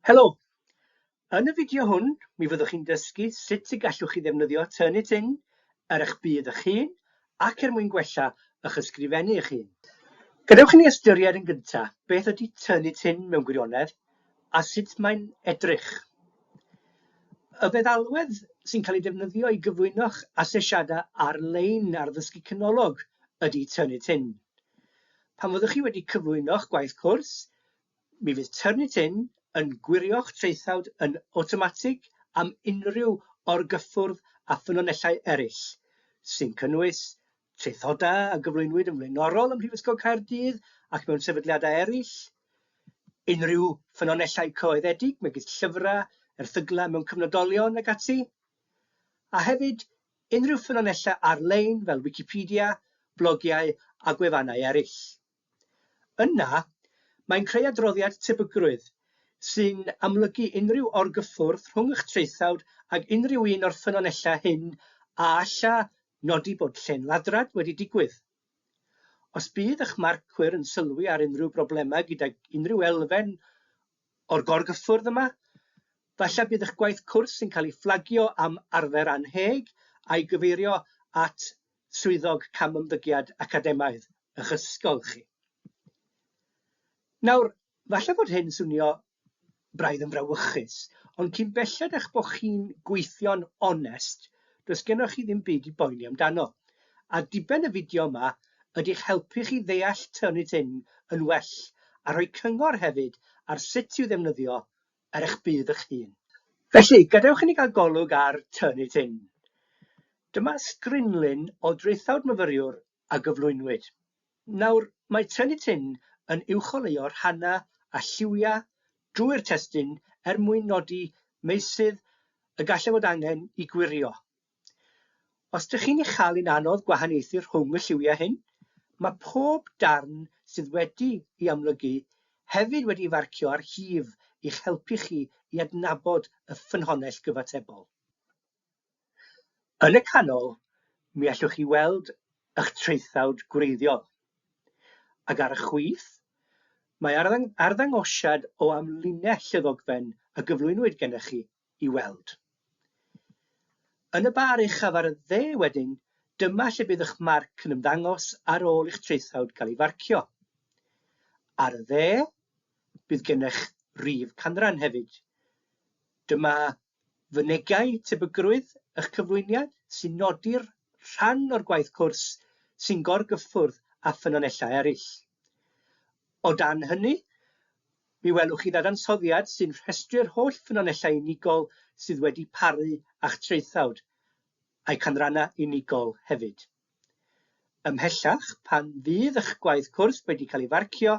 Helo! Yn y fideo hwn, mi fyddwch chi'n dysgu sut y gallwch chi ddefnyddio Turnitin ar eich byd eich hun ac er mwyn gwella eich ysgrifennu eich hun. Gadewch i ni ystyried yn gyntaf beth ydy Turnitin mewn gwirionedd a sut mae'n edrych. Y feddalwedd sy'n cael ei defnyddio i gyflwyno'ch asesiadau ar-lein ar ddysgu canolog ydy Turnitin. Pan fyddwch chi wedi cyflwyno'ch gwaith cwrs, Mi fydd Turnitin yn gwirio'ch traethawd yn awtomatig am unrhyw orgyffwrdd â ffynonellau eraill, sy'n cynnwys traethodau a gyflwynwyd yn flaenorol ym Mhrifysgol Caerdydd ac mewn sefydliadau eraill, unrhyw ffynonellau coeddedig, megis llyfrau, erthyglau mewn cyfnodolion ac ati, a hefyd unrhyw ffynonellau ar-lein fel Wicipedia, blogiau a gwefannau eraill. Yna, mae'n creu adroddiad tebygrwydd sy'n amlygu unrhyw orgyffwrdd rhwng eich traethawd ag unrhyw un o'r ffynonellau hyn a alla nodi bod llên ladrad wedi digwydd. Os bydd eich marcwyr yn sylwi ar unrhyw broblemau gydag unrhyw elfen o'r gorgyffwrdd yma, falle bydd eich gwaith cwrs yn cael ei fflagio am arfer annheg a'i gyfeirio at Swyddog Camymddygiad Academaidd y'ch ysgol chi. Nawr, falle fod hyn swnio braidd yn frawychus, ond cyn belled a'ch bod chi'n gweithio'n onest, does gennych chi ddim byd i boeni amdano. A diben y fideo yma ydy'ch helpu chi ddeall Turnitin yn well a rhoi cyngor hefyd ar sut i'w ddefnyddio ar eich budd eich hun. Felly, gadewch i ni gael golwg ar Turn It In. Dyma strinlun o draethawd myfyriwr a gyflwynwyd. Nawr, mae Turn It In yn uwcholeuo rhannau a lliwiau drwy'r testun er mwyn nodi meysydd y gallai fod angen i gwirio Os dych chi'n ei chael hi'n anodd gwahaniaethu rhwng y lliwiau hyn, mae pob darn sydd wedi'i amlygu hefyd wedi'i farcio ar hif i'ch helpu chi i adnabod y ffynhonnell gyfatebol. Yn y canol, mi allwch chi weld eich traethawd gwreiddiol. Ac ar y chwith, mae arddangosiad o amlinell y ddogfen a gyflwynwyd gennych chi. i weld. Yn y bar uchaf ar y dde wedyn, dyma lle bydd eich marc yn ymddangos ar ôl i'ch traethawd gael ei farcio. Ar y dde, bydd gennych rif canran hefyd. Dyma fynegai tebygrwydd eich cyflwyniad sy'n nodi'r rhan o'r gwaith cwrs sy'n gorgyffwrdd â ffynonellau eraill. O dan hynny, Mi welwch chi ddadansoddiad sy'n rhestru'r holl ffynonellau unigol sydd wedi paru a'ch traethawd, a'u canrannau unigol hefyd. Ymhellach, pan fydd eich gwaith cwrs wedi cael ei farcio,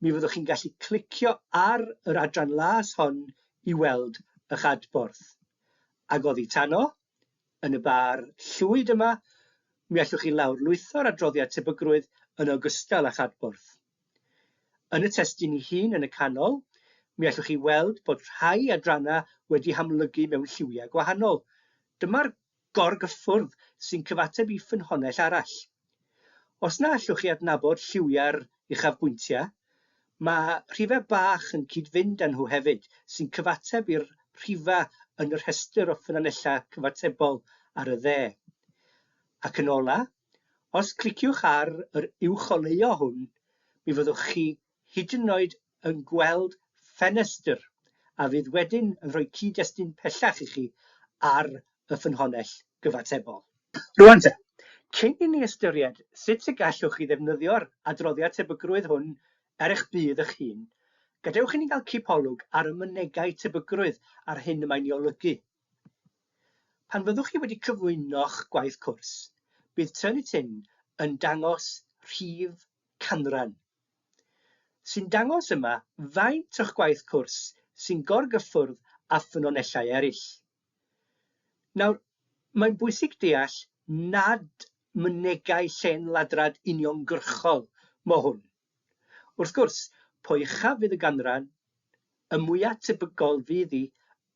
mi fyddwch chi'n gallu clicio ar yr adran las hon i weld eich adborth. Ag oddi tano, yn y bar llwyd yma, mi allwch chi lawrlwytho'r adroddiad tebygrwydd yn ogystal â'ch adborth. Yn y testun ei hun yn y canol, mi allwch chi weld bod rhai adrannau wedi hamlygu mewn lliwiau gwahanol. Dyma'r gorgyffwrdd sy'n cyfateb i ffynhonnell arall. Os na allwch chi adnabod lliwiau'r uchafbwyntiau, mae rhifau bach yn cyd-fynd â nhw hefyd, sy'n cyfateb i'r rhifau yn y rhestr o ffynonellau cyfatebol ar y dde. Ac yn olaf, Os cliciwch ar yr uwcholeuo hwn, mi fyddwch chi hyd yn oed yn gweld ffenestr a fydd wedyn yn rhoi cyd-destun pellach i chi ar y ffynhonnell gyfatebol. Rŵan te, cyn i ni ystyried sut y gallwch chi ddefnyddio'r adroddiad tebygrwydd hwn er eich budd eich hun, gadewch i ni gael cipolwg ar y mynegai tebygrwydd a'r hyn y mae'n ei olygu Pan fyddwch chi wedi cyflwyno'ch gwaith cwrs, bydd Turnitin Tin yn dangos rhif canran, sy'n dangos yma faint o'ch gwaith cwrs sy'n gorgyffwrdd â ffynonellau eraill. Nawr, mae'n bwysig deall nad mynegai llen ladrad uniongyrchol mo hwn. Wrth gwrs, po uchaf fydd y ganran, y mwya' tebygol fydd hi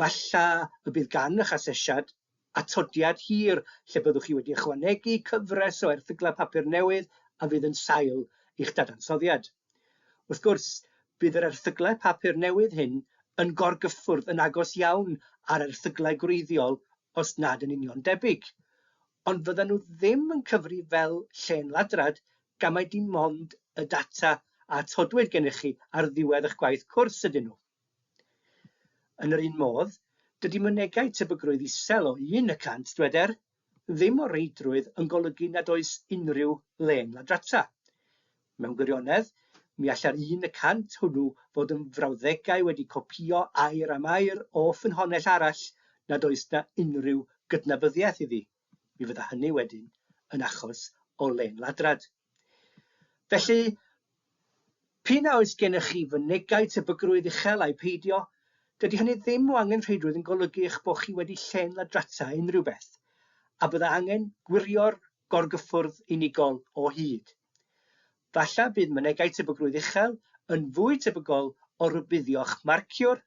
Falla y bydd gan eich asesiad atodiad hir lle byddwch chi wedi ychwanegu cyfres o erthyglau papur newydd a fydd yn sail i'ch dadansoddiad. Wrth gwrs, bydd yr erthyglau papur newydd hyn yn gorgyffwrdd yn agos iawn â'r erthyglau gwreiddiol os nad yn union debyg, ond fyddan nhw ddim yn cyfri fel llên ladrad gan mai dim ond y data a atodwyd gennych chi ar ddiwedd eich gwaith cwrs ydyn nhw. Yn yr un modd, dydy mynegai tebygrwydd isel o un y cant, dyweder, ddim o reidrwydd yn golygu nad oes unrhyw le'n ladrata. Mewn gwirionedd, mi allai'r un y cant hwnnw fod yn frawddegau wedi copïo air am air o ffynhonnell arall nad oes 'na unrhyw gydnabyddiaeth iddi. Mi fydda hynny wedyn yn achos o len ladrad. Felly, p'un a oes gennych chi fynegai tebygrwydd uchel ai peidio, dydy hynny ddim o angenrheidrwydd yn golygu eich bod chi wedi len ladrata unrhyw beth, a bydda angen gwirio'r gorgyffwrdd unigol o hyd. Falle bydd mynegai tebygrwydd uchel yn fwy tebygol o rybuddio'ch marciwr,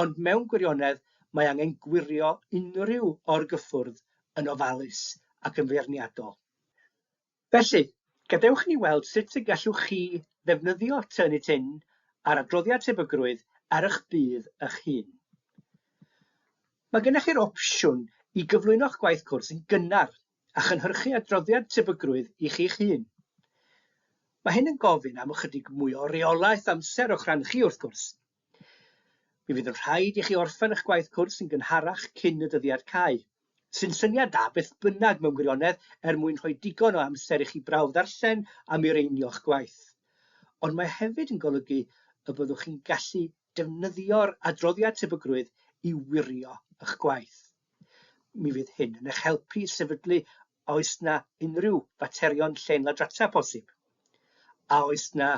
ond mewn gwirionedd mae angen gwirio unrhyw orgyffwrdd yn ofalus ac yn feirniadol. Felly, gadewch i ni weld sut y gallwch chi ddefnyddio Turnitin a'r adroddiad tebygrwydd ar eich budd eich hun. Mae gennych chi'r opsiwn i gyflwyno'ch gwaith cwrs yn gynnar a chynhyrchu adroddiad tebygrwydd i chi'ch hun. Mae hyn yn gofyn am ychydig mwy o reolaeth amser o'ch rhan chi, wrth gwrs. Mi fydd yn rhaid i chi orffen eich gwaith cwrs yn gynharach cyn y dyddiad cau, sy'n syniad da beth bynnag mewn gwirionedd er mwyn rhoi digon o amser i chi brawf ddarllen a mireinio'ch gwaith. Ond mae hefyd yn golygu y byddwch chi'n gallu defnyddio'r adroddiad tebygrwydd i wirio eich gwaith. Mi fydd hyn yn eich helpu i sefydlu a oes na unrhyw faterion llen ladrata posib. A oes na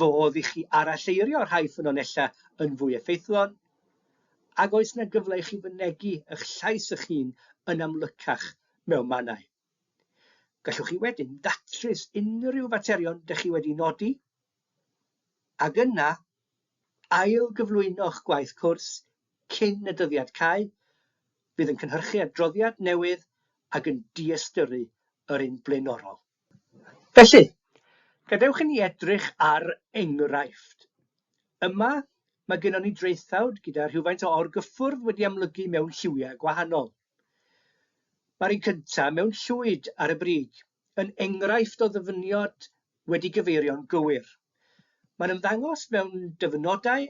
fodd i chi aralleirio rhai ffynonellau yn fwy effeithlon? Ac oes na gyfle i chi fynegi eich llais eich hun yn amlycach mewn mannau? Gallwch chi wedyn datrys unrhyw faterion dych chi wedi nodi ac yna ail gyflwyno'ch gwaith cwrs cyn y dyddiad cau, fydd yn cynhyrchu adroddiad newydd ac yn diystyrru yr un blaenorol. Felly, gadewch i ni edrych ar enghraifft. Yma, mae gennon ni draethawd gyda rhywfaint o orgyffwrdd wedi amlygu mewn lliwiau gwahanol. Mae'r un cyntaf mewn llwyd ar y brig yn enghraifft o ddyfyniad wedi gyfeirio'n gywir. Mae'n ymddangos mewn dyfynodau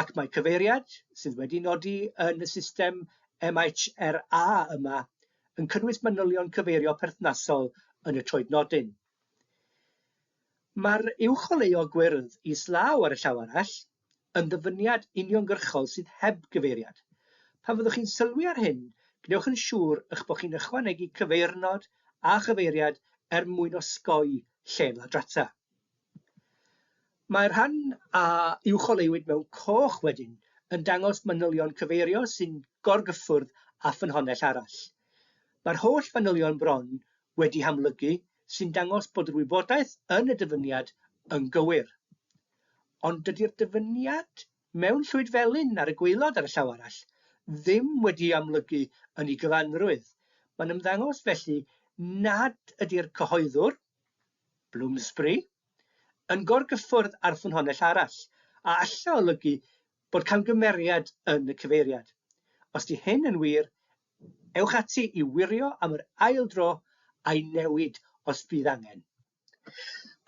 ac mae cyfeiriad, sydd wedi nodi yn y system MHRA yma, yn cynnwys manylion cyfeirio perthnasol yn y troednodyn. Mae'r uwcholeuo gwyrdd islaw ar y llaw arall yn ddyfyniad uniongyrchol sydd heb gyfeiriad. Pan fyddwch chi'n sylwi ar hyn, gwnewch yn siŵr eich bod chi'n ychwanegu cyfeirnod a chyfeiriad er mwyn osgoi lle ladrata. Mae'r rhan a uwcholeuwyd mewn coch wedyn yn dangos manylion cyfeirio sy'n gorgyffwrdd â ffynhonnell arall. Mae'r holl fanylion bron wedi hamlygu sy'n dangos bod yr wybodaeth yn y dyfyniad yn gywir. ond dydi'r dyfyniad mewn llwyd felyn ar y gwaelod ar y llaw arall ddim wedi'i amlygu yn ei gyfanrwydd. Mae'n ymddangos felly nad ydi'r cyhoeddwr, Bloomsbury, yn gorgyffwrdd â'r ffynhonnell arall, a alla olygu bod camgymeriad yn y cyfeiriad. Os 'di hyn yn wir, ewch ati i wirio am yr ail dro a'i newid os bydd angen.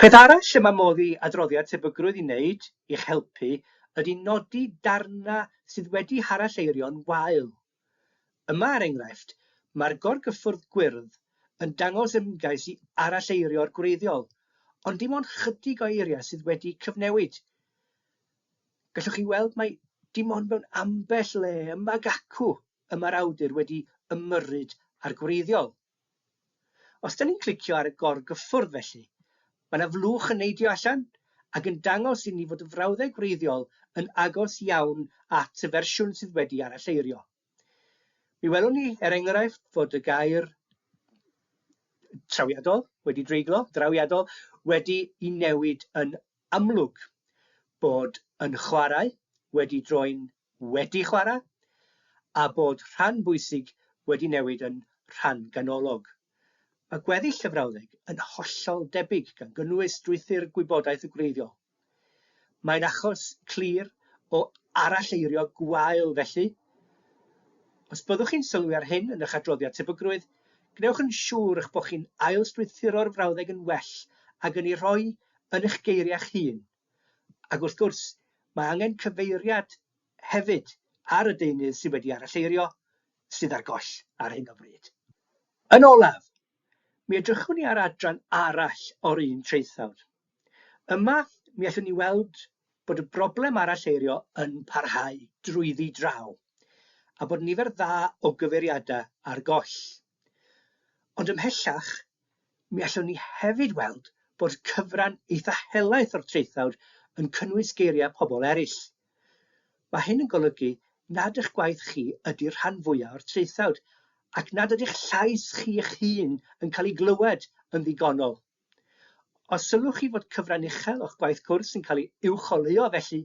Peth arall y mae modd i adroddiad tebygrwydd i wneud i'ch helpu ydy nodi darnau sydd wedi haralleirio'n wael. Yma, er enghraifft, mae'r gorgyffwrdd gwyrdd yn dangos ymgais i aralleirio'r gwreiddiol, ond dim ond chydig o eiriau sydd wedi cyfnewid. Gallwch chi weld mai dim ond mewn ambell le ymag acw y mae'r awdur wedi ymyrryd â'r gwreiddiol. Os da ni'n clicio ar y gorgyffwrdd felly, mae yna flwch yn neidio allan ac yn dangos i ni fod y frawddeg wreiddiol yn agos iawn at y fersiwn sydd wedi aralleirio. Mi welwn ni, er enghraifft, fod y gair trawiadol wedi dreiglo, drawiadol, wedi i newid yn amlwg bod yn chwarae, wedi droi'n wedi chwarae, a bod rhan bwysig wedi newid yn rhan ganolog. Mae gweddill y frawddeg yn hollol debyg, gan gynnwys strwythur gwybodaeth y gwreiddiol. Mae'n achos clir o aralleirio gwael felly, Os byddwch chi'n sylwi ar hyn yn eich adroddiad tebygrwydd, gwnewch yn siŵr eich bod chi'n ail-strwythuro'r frawddeg yn well ag yn ei rhoi yn eich geiriau'ch hun. Ac wrth gwrs, mae angen cyfeiriad hefyd ar y deunydd sydd wedi aralleirio, sydd ar goll ar hyn o bryd. Yn olaf, mi edrychwn i ar adran arall o'r un traethawd. Yma, mi allwn ni weld bod y broblem aralleirio yn parhau drwyddi draw, a bod nifer dda o gyfeiriadau ar goll. Ond ymhellach, mi allwn ni hefyd weld bod cyfran eitha helaeth o'r traethawd yn cynnwys geiriau pobl eraill. Mae hyn yn golygu nad eich gwaith chi ydy'r rhan fwyaf o'r traethawd, ac nad ydy'ch llais chi eich hun yn cael ei glywed yn ddigonol. Os sylwch chi fod cyfran uchel o'ch gwaith cwrs yn cael ei uwcholeuo felly,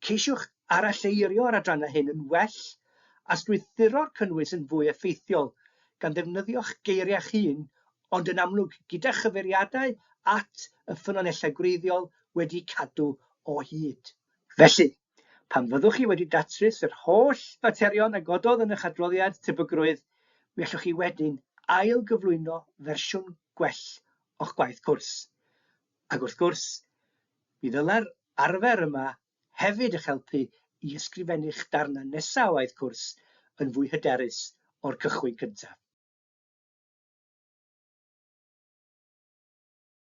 ceisiwch aralleirio'r adrannau hyn yn well a strwythuro'r cynnwys yn fwy effeithiol, gan ddefnyddio'ch geiriau'ch hun, ond yn amlwg gyda chyfeiriadau at y ffynonellau gwreiddiol wedi cadw o hyd. Felly. Pan fyddwch chi wedi datrys yr holl faterion a gododd yn eich adroddiad tebygrwydd, mi allwch chi wedyn ail-gyflwyno fersiwn gwell o'ch gwaith cwrs. Ac wrth gwrs, mi ddylai'r arfer yma hefyd eich helpu i ysgrifennu'ch darnau nesaf o waith cwrs yn fwy hyderus o'r cychwyn cyntaf.